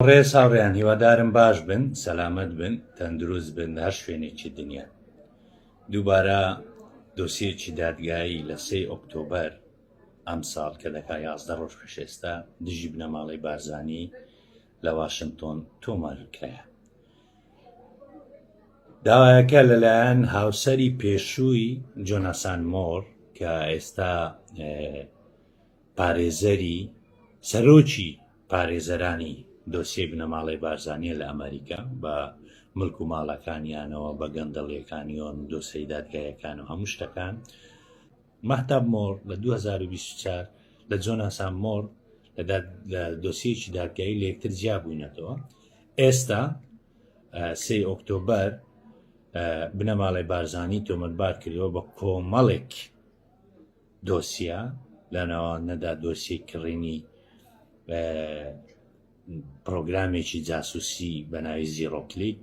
ڕێز هاوڕێیان هیوادارم باش بن سەلامەت بن تەندروست بن لە هەر شوێنێکی دنیا دووبارە دۆسیەکی دادگایی لە سێ ئۆکتۆبەر ئەم ساڵ کە دەکا یازدە ڕۆژ پێشێستا دژی بنەماڵەی بارزانی لە واشنگتۆن تۆمارکرایە داوایەکە لەلایەن هاوسری پێشووی جۆناسان مۆر کە ئێستا پارێزەری سەرۆکی پارێزەرانی دۆسیەی بنەماڵەی بارزانیە لە ئەمەریکا، بە ملک و ماڵەکانیانەوە، بە گەندەڵیەکانیۆن و دۆسێی دادگایەکان و هەموو شتەکان. مەهتاب مۆڕ لە دوو هەزار و بیست و چوار لە جۆناسان مۆڕ لە لە دۆسیەکی دادگایی لە یەکتر جیا بووینەتەوە. ئێستا سێ ئۆکتۆبەر بنەماڵەی بارزانی تۆمەتبار کردەوە بە کۆمەڵێک دۆسیە، لە ناوانەدا دۆسیەی کڕینی پڕۆگرامێکی جاسوسی بە ناوی زیڕۆکلیک،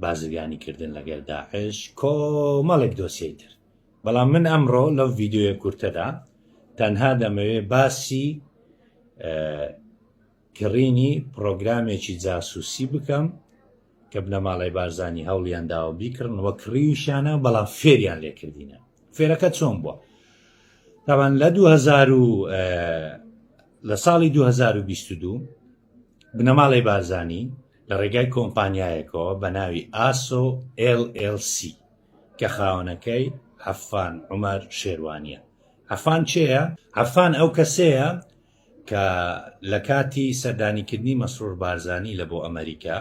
بازرگانی کردن لەگەر داعش کۆمەڵێک دۆسیەی تر بەڵام من ئەمڕۆ لەو ڤیددیوە کورتەدا تەنها دەمەوێ باسی کڕینی پرۆگرامێکی جاسوسی بکەم کە بنەماڵەی بارزانی هەوڵیان داوە بیکڕن وە کڕیویشانە بەڵام فێریان لێکردینە فێرەکە چۆن بووە تاوان لە 2000 لە ساڵی 2022 بنەماڵی بارزانی لە ڕێگای کۆمپانیایەکەوە بە ناوی ئاسۆ LLC کە خاونەکەی عفان عمر شێوانە عفان چێە عفان ئەو کەسەیە کە لە کاتی سەردانیکردنی مەسرور بارزانی لە بۆ ئەمەریکا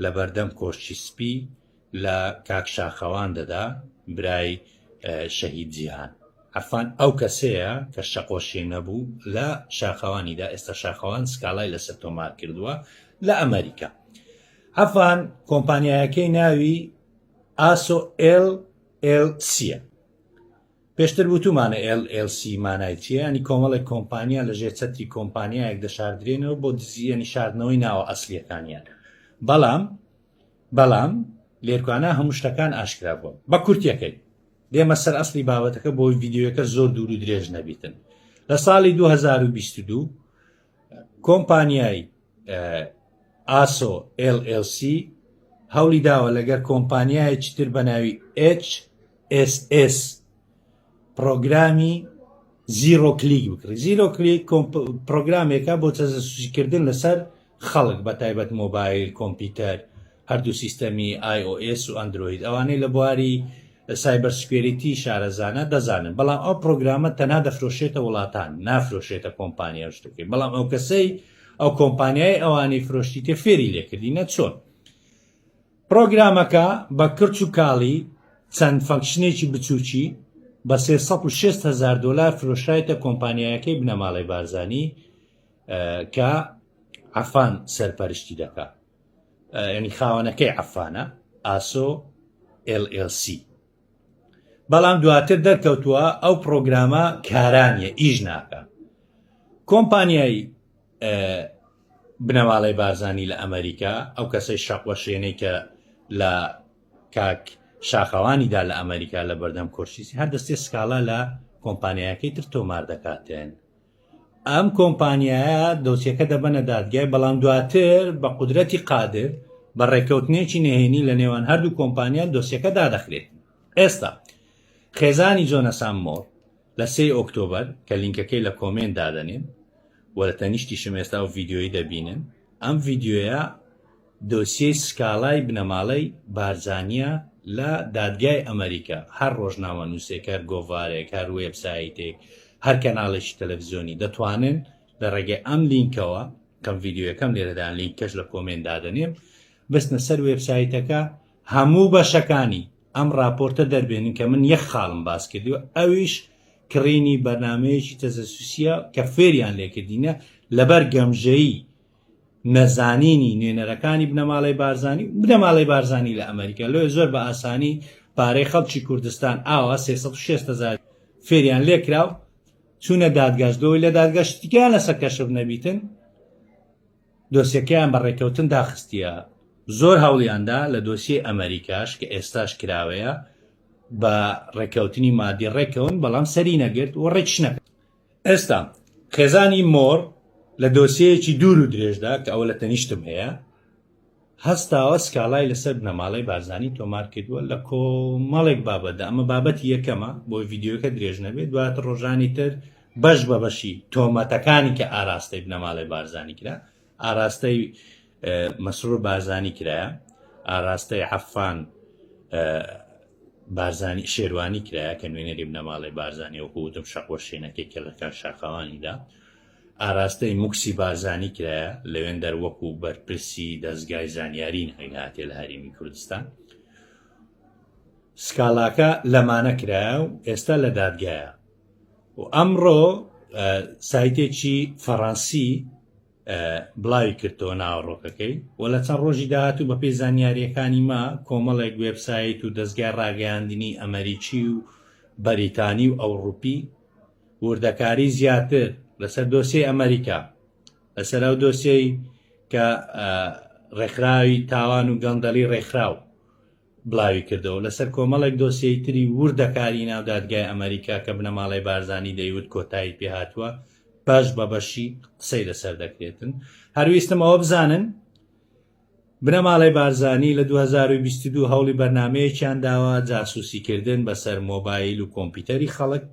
لە بەردەم کۆشکی سپی لە کاک شاخەوان دەدا برای شەهید جیهان عەرفان ئەو کەسەیە کە شەقۆشی نەبوو لە شاخەوانیدا ئێستا شاخەوان سکاڵای لەسەر تۆمار کردووە لە ئەمەریکا عەفان کۆمپانیایەکەی ناوی ئاسۆ ئل ئل سیە پێشتر وتومانە ئێل ئێل سی مانای چیە ینی کۆمەڵێک کۆمپانیا لە ژێر چەتری کۆمپانیایەک دەشاردرێنەوە بۆ دزی ینی شاردنەوەی ناوە ئەسلیەکانیان بەڵام بەڵام لێرکوانا هەموو شتەکان ئاشکرا بوون بە کورتەکەی دێمە سەر ئەسلی بابەتەکە بۆی ڤیددیوەکە زۆر دوور و درێژ نەبیتن لە ساڵی 2022 کۆمپانیای ئاسۆ LLC هەولی داوە لەگەر کۆمپانیایەکی تر بە ناوی HSS پرۆگرامی زیرۆ کلیک بکڕی زیرۆ کلیک پرۆگرامێکە بۆ تەزەسوزیکردن لەسەر خەڵک بە تایبەت مۆبایل کۆمپیوتەر هەردوو سیستەمی iOS و ئەندرۆید ئەوانەی لە بواری سایبەرسکوێریتی شارەزانە دەزانن بەڵام ئەو پرۆگرامە تەنها دەفرۆشێتە وڵاتان نافرۆشێتە کۆمپانیا شتەکەی بەڵام ئەو کەسەی ئەو کۆمپانیای ئەوانی فرۆشتی تێ فێری لێکردی نە چۆن پرۆگرامەکە بە کرچ و کاڵی چەند فەنکشنێکی بچووکی بە 360 هزار دلار فرۆشایتە کۆمپانیایەکەی بنەماڵەی بارزانانی کە عفان سەرپەرشتی دەکات یعنی خاوەنەکەی عفانە ئاسۆ LLC بەڵام دواتر دەرکەوتووە ئەو پرۆگرامە کارانیە ئیش ناکە کۆمپانیایی بنەماڵی بارزانانی لە ئەمریکا ئەو کەسەی شەقوەشێنەی کە لە کاک شاخەوانیدا لە ئەمریکا لە بەردەم کۆشیسی هەر دەستێ سکاڵا لە کۆمپانیایەکەی تر تۆمار دەکاتێن ئەم کۆمپانیایە دۆسیەکە دەبەنە دادگای بەڵام دواتر بە قودرەتی قادر بە ڕێککەوتنێکی نهێنی لە نێوان هەردوو کۆمپانیان دۆسیەکە دادەخرێت ئێستا خێزانی جۆنەسان مۆر لە سێ ئۆکتۆبر کە لینکەکەی لە کۆمێنت دادەنێن و لە تەنیشتیشم ئێستا و ڤیددیۆی دەبینن ئەم ڤیددیوە دۆسیەی سکاڵای بنەماڵەی بارزانییە لە دادگای ئەمەریکا، هەر ڕۆژنامەنووسێک، هەر گۆڤارێک، هەر وێبسایتێک، هەر کەناڵێکی تەلەفزیۆنی دەتوانن لە ڕێگەی ئەم لینکەوە، کەم ڤیدیۆیەکەم لێرەدان لینکەش لە کۆمێنت دادەنێم، بچنە سەر وێبسایتەکە هەموو بەشەکانی ئەم ڕاپۆرتە دەربێنن کە من یەک خاڵم باس کردووە ئەویش کڕینی بەرنامەیەکی تەجەسوسییە کە فێریان لێکردینە لەبەر گەمژەیی نەزانینی نوێنەرەکانی بنەماڵەی بارزانی و بنەماڵەی بارزانی لە ئەمریکا لۆ زۆر بە ئاسانی پارەی خەڵکی کوردستان ئاوا 360هزار فێریان لێکراو چوونە دادگاش بەوەی لە دادگەشتیان لەسەر کەشف نەبیتن دۆسیەکەیان بە ڕێکەوتن داخستیە زۆر هەوڵیاندا لە دۆسیی ئەمریکاش کە ئێستاش کراوەیە بە ڕێکەوتنی مادی ڕێکەون بەڵام سەری نەگرت و ڕێکشنەکە ئێستا خێزانی مۆڕ لە دۆسیەیەکی دوور و درێژدا کە ئەوە لە تەنیشتم هەیە هەستاوە سکاڵای لەسەر بنەماڵەی بارزانی تۆمار کردووە لە کۆمەڵێک بابەتدا ئەمە بابەتی یەکەمە بۆی ڤیددیوەکە درێژ نەبێت دواتر ڕۆژانی تر بەش بە بەشی تۆمەتەکانی کە ئاراستەی بنەماڵەی بارزانی کرا ئاراستەی مەسرور بارزانی کرایە ئاراستەی عەفان بارزانی شێروانی کرایە کە نوێنەری بنەماڵی بارزانانی و هودم شەقوە شوێنەکەی کەلەکان شاخەوانیدا ئاراستەی موکسی بارزانی کرایە لەوێن دەروەکو بەرپرسی دەستگای زانیاری ناوی هاتێ لە هەرێمی کوردستان سکاڵاکە لەمانە کرایە و ئێستا لە دادگایە و ئەمڕۆ سایتێکی فەڕەنسی بڵاوی کردەوە ناوەڕۆکەکەی و لە چەند ڕۆژی داهاتوو بە پێی زانیاریەکانی ما کۆمەڵێک وێبسایت و دەستگای ڕاگەیاندنی ئەمریکی و بەریتانی و ئەوروپی وردەکاری زیاتر لەسەر دۆسیی ئەمریکا لەسەر ئەو دۆسیەی کە ڕێکخراوی تاوان و گەندەڵی ڕێکخراو بڵاویکردەوە، لەسەر کۆمەڵێک دۆسیەی تری وردەکاریی ناو دادگای ئەمەریکا کە بنەماڵەی بارزانی دەیوت کۆتایی پێهاتووە، بەش بە بەشی قسەی لەسەر دەکرێتن. هەر ویستم ئەوە بزانن، بنەماڵەی بارزانی لە دوو هەزار و بیست و دوو هەوڵی بەرنامەیەکیان داوە، جاسووسیکردن بەسەر مۆبایل و کۆمپیوتەری خەڵک،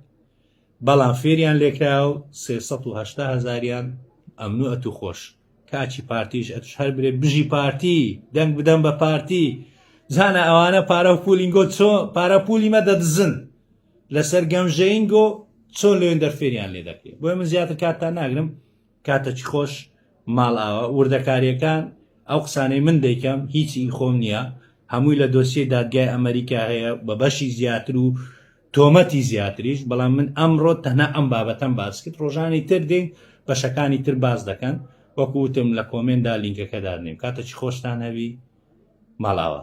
بەڵام فێریان لێکراوە و سێ سەد و هەشتا هەزاریان ئەمن و ئەتووخۆش کاچی پارتیش ئەتوش هەر برێ بژی پارتی دەنگ بدەم بە پارتی زانە ئەوانە پارە و پولینگۆ چۆ پارە پولی مە دەدزن لەسەر گەمژەینگۆ چۆن لەوێن دەرفێریان لێ دەکرێت بۆی من زیاتر کاتتان ناگرم کاتەکی خۆش ماڵ ئاوە وردەکاریەکان ئەو قسانەی من دەیکەم هیچی خۆم نییە هەمووی لە دۆسیە دادگای ئەمریکا هەیە بە بەشی زیاتر و تۆمەتی زیاتریش بەڵام من ئەمڕۆ تەنها ئەم بابەتەم باس کرد ڕۆژانی تر دێین بەشەکانی تر باس دەکەن وەکو وتم لە کۆمێندا لینکەکە دادنێم کاتەکی خۆشتان هەبی ماڵاوە.